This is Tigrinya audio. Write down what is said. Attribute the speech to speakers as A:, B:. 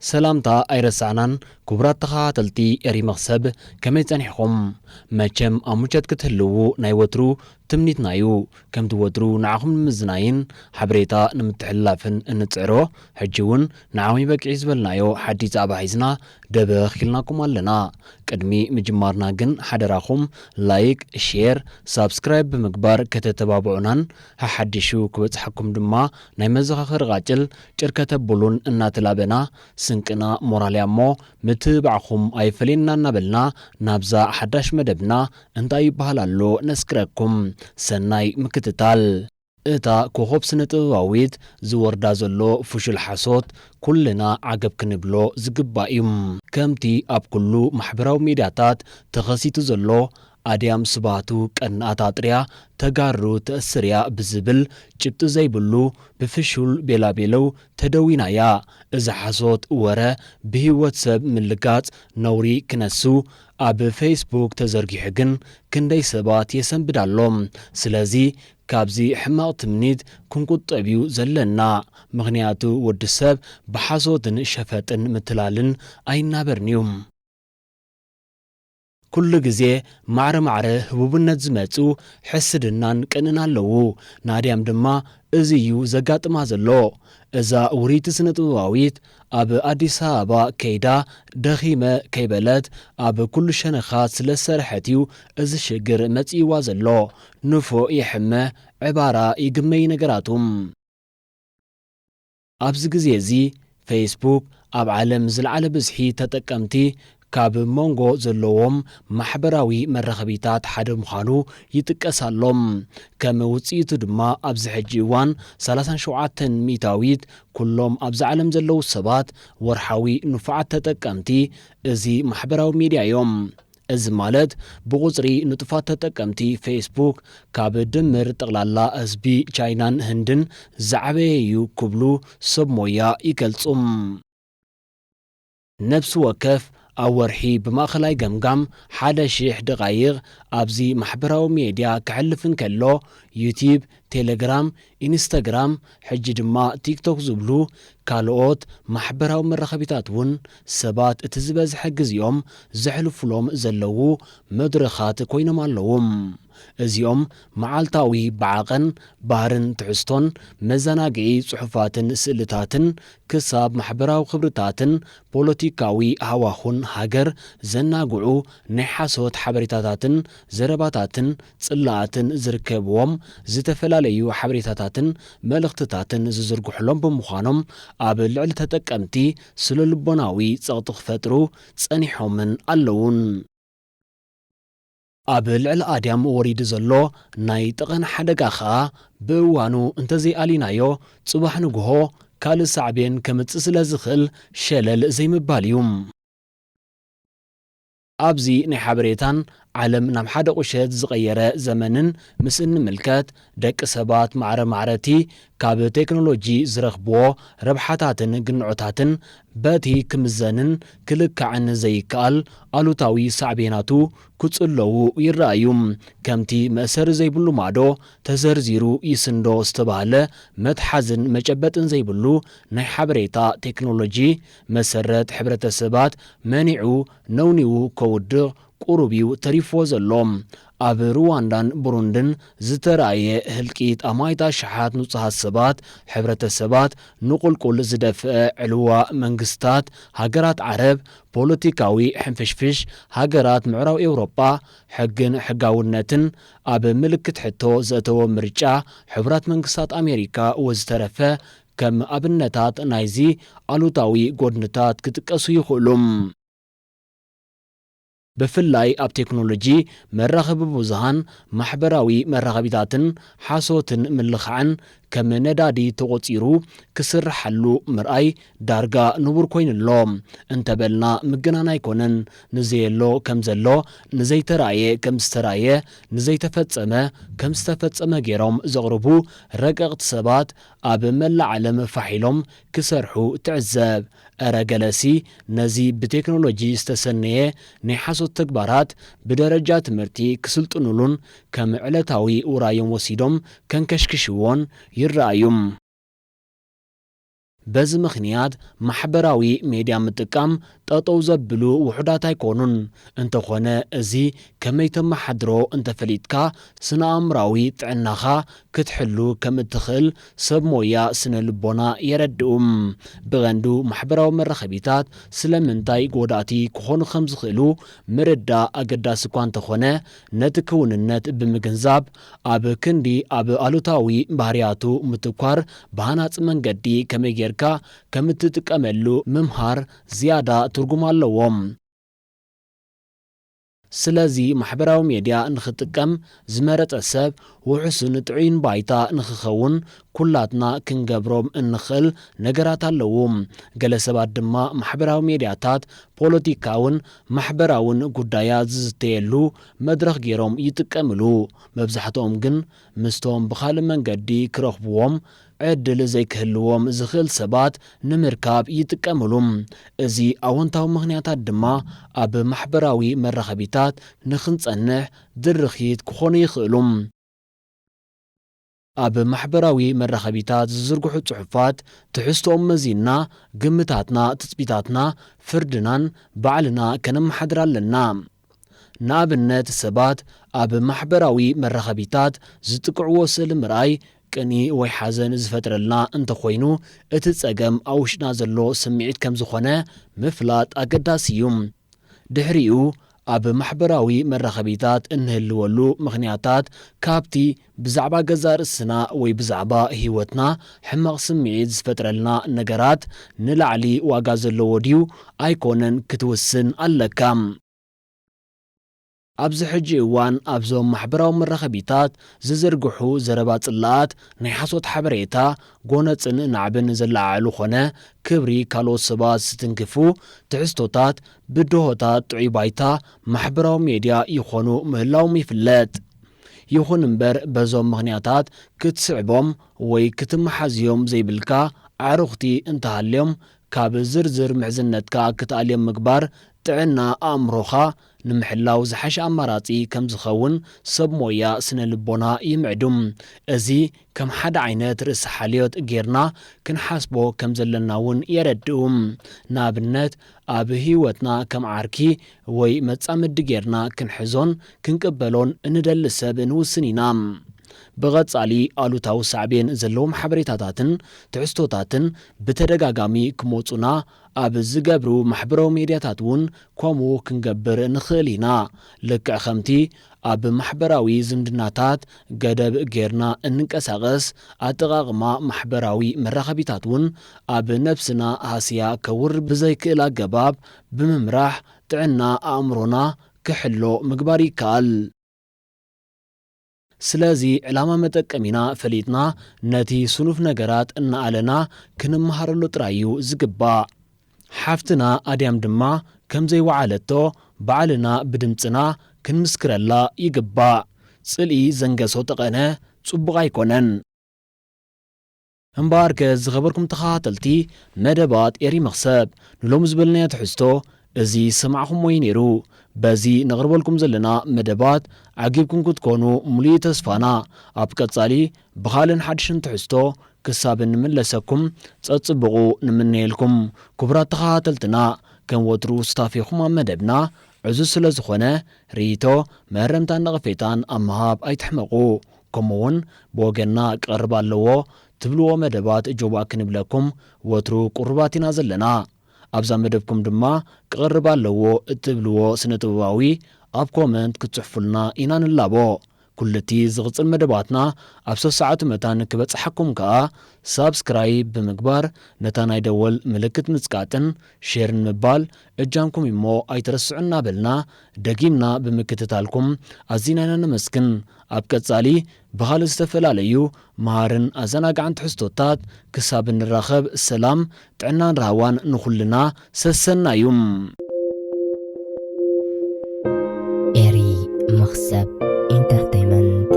A: ሰላምታ ኣይረሳዕናን ክቡራት ተኻታተልቲ ኤሪ መኽሰብ ከመይ ጸኒሕኹም መቸም ኣብ ሙቸት ክትህልዉ ናይ ወትሩ ትምኒትና ዩ ከምቲ ወትሩ ንዓኹም ንምዝናይን ሓበሬታ ንምትሕልላፍን እንጽዕሮ ሕጂ ውን ንዓሚ በቂዑ ዝበልናዮ ሓድሽ ዛዕባ ሒዝና ደበኽ ኢልናኩም ኣለና ቅድሚ ምጅማርና ግን ሓደራኹም ላይክ ሼር ሳብስክራይብ ብምግባር ከተተባብዑናን ሓሓዲሹ ክበጽሓኩም ድማ ናይ መዘኻኸሪ ቃጭል ጭር ከተብሉን እናተላበና ስንቅና ሞራልያ እሞ ምትብባዕኹም ኣይፈለየና እናበልና ናብዛ ሓዳሽ መደብና እንታይ ይበሃል ኣሎ ነስግረኩም። ሰናይ ምክትታል። እታ ኮኾብ ስነ ጥበባዊት ዝወርዳ ዘሎ ፍሹል ሓሶት ኩልና ዓገብ ክንብሎ ዝግባእ እዩ። ከምቲ ኣብ ኩሉ ማሕበራዊ ሚድያታት ተኸሲቱ ዘሎ ኣድያም ስብሃቱ ቀናኣት ኣጥርያ ተጋሩ ተእስር እያ ብዝብል ጭብጢ ዘይብሉ ብፍሹል ቤላቤለው ተደዊና እያ። እዚ ሓሶት ወረ ብሂወት ሰብ ምልጋጽ ነውሪ ክነሱ ኣብ ፈይስቡክ ተዘርጊሑ ግን ክንደይ ሰባት የሰንብድ ኣሎ። ስለዚ ካብዚ ሕማቕ ትምኒት ክንቁጠብ እዩ ዘለና ምኽንያቱ ወዲ ሰብ ብሓሶትን ሸፈጥን ምትላልን ኣይናበርን እዩ። ኩሉ ግዜ ማዕረ ማዕረ ህቡብነት ዝመጹ ሕስድናን ቅንእን ኣለዉ። ናድያም ድማ እዚ እዩ ዘጋጥማ ዘሎ። እዛ ውርይቲ ስነጥበባዊት ኣብ ኣዲስ ኣበባ ከይዳ ደኺመ ከይበለት ኣብ ኩሉ ሸነኻት ስለ ዝሰርሐት እዩ እዚ ሽግር መጺእዋ ዘሎ። ንፉዕ ይሕመ ዕባራ ይግመ እዩ ነገራቱ። ኣብዚ ግዜ እዚ ፈይስቡክ ኣብ ዓለም ዝለዓለ ብዝሒ ተጠቀምቲ ካብ ሞንጎ ዘለዎም ማሕበራዊ መራኸቢታት ሓደ ምዃኑ ይጥቀስ ኣሎ። ከም ውጽኢቱ ድማ ኣብዚ ሕጂ እዋን ሰላሳን ሸውዓተን ሚእታዊት ኩሎም ኣብዚ ዓለም ዘለዉ ሰባት ወርሓዊ ንፉዓት ተጠቀምቲ እዚ ማሕበራዊ ሚድያ እዮም። እዚ ማለት ብቑጽሪ ንጡፋት ተጠቀምቲ ፌስቡክ ካብ ድምር ጠቕላላ ህዝቢ ቻይናን ህንድን ዝዓበየ'ዩ ክብሉ ሰብ ሞያ ይገልጹ። ነብሲ ወከፍ ኣብ ወርሒ ብማእከላይ ገምጋም ሓደ ሽሕ ደቓይቕ ኣብዚ ማሕበራዊ ሜድያ ከሕልፍ እንከሎ፣ ዩትዩብ፣ ቴለግራም፣ ኢንስታግራም ሕጂ ድማ ቲክቶክ ዝብሉ ካልኦት ማሕበራዊ መራኸቢታት እውን ሰባት እቲ ዝበዝሐ ግዜኦም ዘሕልፉሎም ዘለዉ መድረኻት ኮይኖም ኣለዉ። እዚኦም መዓልታዊ ብዓቐን ባህርን ትሕዝቶን መዘናግዒ ጽሑፋትን ስእልታትን ክሳብ ማሕበራዊ ክብርታትን ፖለቲካዊ ሃዋሁን ሃገር ዘናግዑ ናይ ሓሶት ሓበሬታታትን ዘረባታትን ጽላኣትን ዝርከብዎም ዝተፈላለዩ ሓበሬታታትን መልእኽትታትን ዝዝርግሑሎም ብምዃኖም ኣብ ልዕሊ ተጠቀምቲ ስነልቦናዊ ጸቕጢ ክፈጥሩ ጸኒሖምን ኣለዉን። ኣብ ልዕሊ ኣድያም ወሪዱ ዘሎ ናይ ጠቐነ ሓደጋ ከኣ ብእዋኑ እንተዘይኣሊናዮ ጽባሕ ንግሆ ካልእ ሳዕቤን ከምጽእ ስለዝኽእል ሸለል ዘይምባል እዩ። ኣብዚ ናይ ሓበሬታን ዓለም ናብ ሓደ ቁሸት ዝቐየረ ዘመንን ምስ እንምልከት፣ ደቂ ሰባት ማዕረ ማዕረ'ቲ ካብ ቴክኖሎጂ ዝረኽብዎ ረብሓታትን ግንዖታትን በቲ ክምዘንን ክልካዕን ዘይከኣል ኣሉታዊ ሳዕቤናቱ ክጽለዉ ይረኣዩ። ከምቲ መእሰሪ ዘይብሉ ማዶ ተዘርዚሩ ይስንዶ ዝተባህለ፣ መትሓዝን መጨበጥን ዘይብሉ ናይ ሓበሬታ ቴክኖሎጂ፣ መሰረት ሕብረተሰባት መኒዑ፣ ነውኒዉ ከውድቕ ቁሩብ እዩ ተሪፍዎ ዘሎ። ኣብ ሩዋንዳን ቡሩንድን ዝተራእየ ህልቂት ኣማኢት ኣሽሓት ንጹሃት ሰባት፣ ሕብረተሰባት ንቁልቁል ዝደፍአ ዕልዋ መንግስታት ሃገራት ዓረብ፣ ፖለቲካዊ ሕንፍሽፍሽ ሃገራት ምዕራብ ኤውሮጳ፣ ሕግን ሕጋውነትን ኣብ ምልክት ሕቶ ዘእተዎ ምርጫ ሕቡራት መንግስታት ኣሜሪካ ወዝተረፈ ከም ኣብነታት ናይዚ ኣሉታዊ ጎድንታት ክጥቀሱ ይኽእሉ። ብፍላይ ኣብ ቴክኖሎጂ መራኸቢ ብዙሃን፣ ማሕበራዊ መራኸቢታትን ሓሶትን ምልኻዕን ከም ነዳዲ ተቖጺሩ ክስርሓሉ ምርኣይ ዳርጋ ንቡር ኮይኑ ኣሎ እንተበልና ምግናን ኣይኮነን። ንዘየሎ ከም ዘሎ፣ ንዘይተራእየ ከም ዝተራእየ፣ ንዘይተፈጸመ ከም ዝተፈጸመ ገይሮም ዘቕርቡ ረቀቕቲ ሰባት ኣብ መላእ ዓለም ፋሕ ኢሎም ክሰርሑ ትዕዘብ። እረ ገለሲ ነዚ ብቴክኖሎጂ ዝተሰነየ ናይ ሓሶት ተግባራት ብደረጃ ትምህርቲ ክስልጥኑሉን ከም ዕለታዊ ውራዮም ወሲዶም ከንከሽክሽዎን ይረኣዩ። በዚ ምኽንያት ማሕበራዊ ሜድያ ምጥቃም ጠጠው ዘብሉ ውሑዳት ኣይኮኑን። እንተኾነ እዚ ከመይ ተመሓድሮ እንተፈሊጥካ ስነ-ኣእምራዊ ጥዕናኻ ክትሕሉ ከም እትኽእል ሰብ ሞያ ስነ ልቦና የረድኡ። ብቐንዱ ማሕበራዊ መራኸቢታት ስለምንታይ ጎዳእቲ ክኾኑ ከም ዝኽእሉ ምርዳእ ኣገዳሲ እኳ እንተኾነ ነቲ ክውንነት ብምግንዛብ ኣብ ክንዲ ኣብ ኣሉታዊ ባህርያቱ ምትኳር ብሃናጺ መንገዲ ከመይ ጌርካ ከም እትጥቀመሉ ምምሃር ዝያዳ ትርጉም ኣለዎ። ስለዚ ማሕበራዊ ሜድያ ንኽጥቀም ዝመረጸ ሰብ ውሑስን ጥዑይን ባይታ ንኽኸውን ኩላትና ክንገብሮም እንኽእል ነገራት ኣለዉ። ገለ ሰባት ድማ ማሕበራዊ ሜድያታት ፖለቲካውን ማሕበራውን ጉዳያት ዝዝተየሉ መድረኽ ገይሮም ይጥቀምሉ። መብዛሕትኦም ግን ምስቶም ብኻልእ መንገዲ ክረኽብዎም ዕድል ዘይክህልዎም ዝኽእል ሰባት ንምርካብ ይጥቀምሉ። እዚ ኣወንታዊ ምኽንያታት ድማ ኣብ ማሕበራዊ መራኸቢታት ንኽንጸንሕ ድርኺት ክኾኑ ይኽእሉ። ኣብ ማሕበራዊ መራኸቢታት ዝዝርግሑ ጽሑፋት ትሕዝቶኦም መዚንና ግምታትና፣ ትጽቢታትና፣ ፍርድናን ባዕልና ከነመሓድር ኣለና። ንኣብነት ሰባት ኣብ ማሕበራዊ መራኸቢታት ዝጥቅዕዎ ስእሊ ምርኣይ ቅንኢ ወይ ሓዘን ዝፈጥረልና እንተኾይኑ እቲ ጸገም ኣብ ውሽጥና ዘሎ ስምዒት ከም ዝኾነ ምፍላጥ ኣገዳሲ እዩ። ድሕሪኡ ኣብ ማሕበራዊ መራኸቢታት እንህልወሉ ምኽንያታት ካብቲ ብዛዕባ ገዛእ ርእስና ወይ ብዛዕባ ህይወትና ሕማቕ ስምዒት ዝፈጥረልና ነገራት ንላዕሊ ዋጋ ዘለዎ ድዩ ኣይኰነን ክትውስን ኣለካ። ኣብዚ ሕጂ እዋን ኣብዞም ማሕበራዊ መራኸቢታት ዝዝርግሑ ዘረባ ጽላኣት፣ ናይ ሓሶት ሓበሬታ፣ ጐነጽን ናዕብን ዘለዓዕሉ ኰነ ክብሪ ካልኦት ሰባት ዝትንክፉ ትሕዝቶታት ብድሆታት ጥዑይ ባይታ ማሕበራዊ ሜድያ ይዀኑ ምህላዎም ይፍለጥ። ይኹን እምበር በዞም ምኽንያታት ክትስዕቦም ወይ ክትመሓዝዮም ዘይብልካ ኣዕሩኽቲ እንተሃልዮም ካብ ዝርዝር ምሕዝነትካ ክትኣልዮም ምግባር ጥዕና ኣእምሮኻ ንምሕላው ዝሓሸ ኣማራጺ ከምዝኸውን ሰብ ሞያ ስነ-ልቦና ይምዕዱ። እዚ ከም ሓደ ዓይነት ርእሰ ሓልዮት ጌርና ክንሓስቦ ከም ዘለና እውን የረድኡ። ንኣብነት፣ ኣብ ህይወትና ከም ዓርኪ ወይ መጻምዲ ጌርና ክንሕዞን ክንቅበሎን እንደሊ ሰብ ንውስን ኢና። ብቐጻሊ ኣሉታዊ ሳዕቤን ዘለዎም ሓበሬታታትን ትሕዝቶታትን ብተደጋጋሚ ክመጹና ኣብ ዝገብሩ ማሕበራዊ ሜድያታት እውን ከምኡ ክንገብር ንኽእል ኢና። ልክዕ ከምቲ ኣብ ማሕበራዊ ዝምድናታት ገደብ ገይርና እንንቀሳቐስ፣ ኣጠቓቕማ ማሕበራዊ መራኸቢታት እውን ኣብ ነብስና ሃስያ ከውርድ ብዘይክእል ኣገባብ ብምምራሕ ጥዕና ኣእምሮና ክሕሎ ምግባር ይከኣል። ስለዚ ዕላማ መጠቀሚና ፈሊጥና ነቲ ስኑፍ ነገራት እናኣለና ክንመሃረሉ ጥራይ እዩ ዝግባእ። ሓፍትና ኣድያም ድማ ከምዘይወዓለቶ ባዕልና ብድምጽና ክንምስክረላ ይግባእ። ጽልኢ ዘንገሶ ጠቐነ ጽቡቕ ኣይኮነን። እምበኣርከ ዝኸበርኩም ተኸታተልቲ መደባት ኤሪ መኽሰብ ንሎሚ ዝበልናዮ ትሕዝቶ እዚ ዝሰማዕኹሞ እዩ ነይሩ። በዚ ነቕርበልኩም ዘለና መደባት ዓጊብኩም ክትኮኑ ሙሉኢ ተስፋና። ኣብ ቀጻሊ ብኻልን ሓድሽን ትሕዝቶ ክሳብ እንምለሰኩም ጸጽቡቑ ንምነየልኩም ኩቡራት ተኻታተልትና ከም ወትሩ ሱታፌኹም ኣብ መደብና ዕዙዝ ስለ ዝኾነ ሪኢቶ መእረምታን ነቐፌታን ኣብ ምሃብ ኣይትሕመቑ ከምኡ ውን ብወገንና ክቐርብ ኣለዎ ትብልዎ መደባት እጆባ ክንብለኩም ወትሩ ቁሩባት ኢና ዘለና ኣብዛ መደብኩም ድማ ክቐርብ ኣለዎ እትብልዎ ስነ ጥበባዊ ኣብ ኮመንት ክትጽሕፉልና ኢና ንላቦ ኩሉ'ቲ ዝቕጽል መደባትና ኣብ ሰሰዓቱ መታን ክበጽሓኩም ከኣ ሳብስክራይብ ብምግባር ነታ ናይ ደወል ምልክት ምጽቃጥን ሼርን ምባል እጃምኩም እዩ'ሞ ኣይትረስዑ እናበልና ደጊምና ብምክትታልኩም ኣዚና ኢና ነመስግን ኣብ ቀጻሊ ብኻልእ ዝተፈላለዩ መሃርን ኣዘናጋዕን ትሕዝቶታት ክሳብ እንራኸብ ሰላም ጥዕናን ራህዋን ንኹልና ሰሰናዩ። ኤሪ መኽሰብ ኢንተርተይመንት።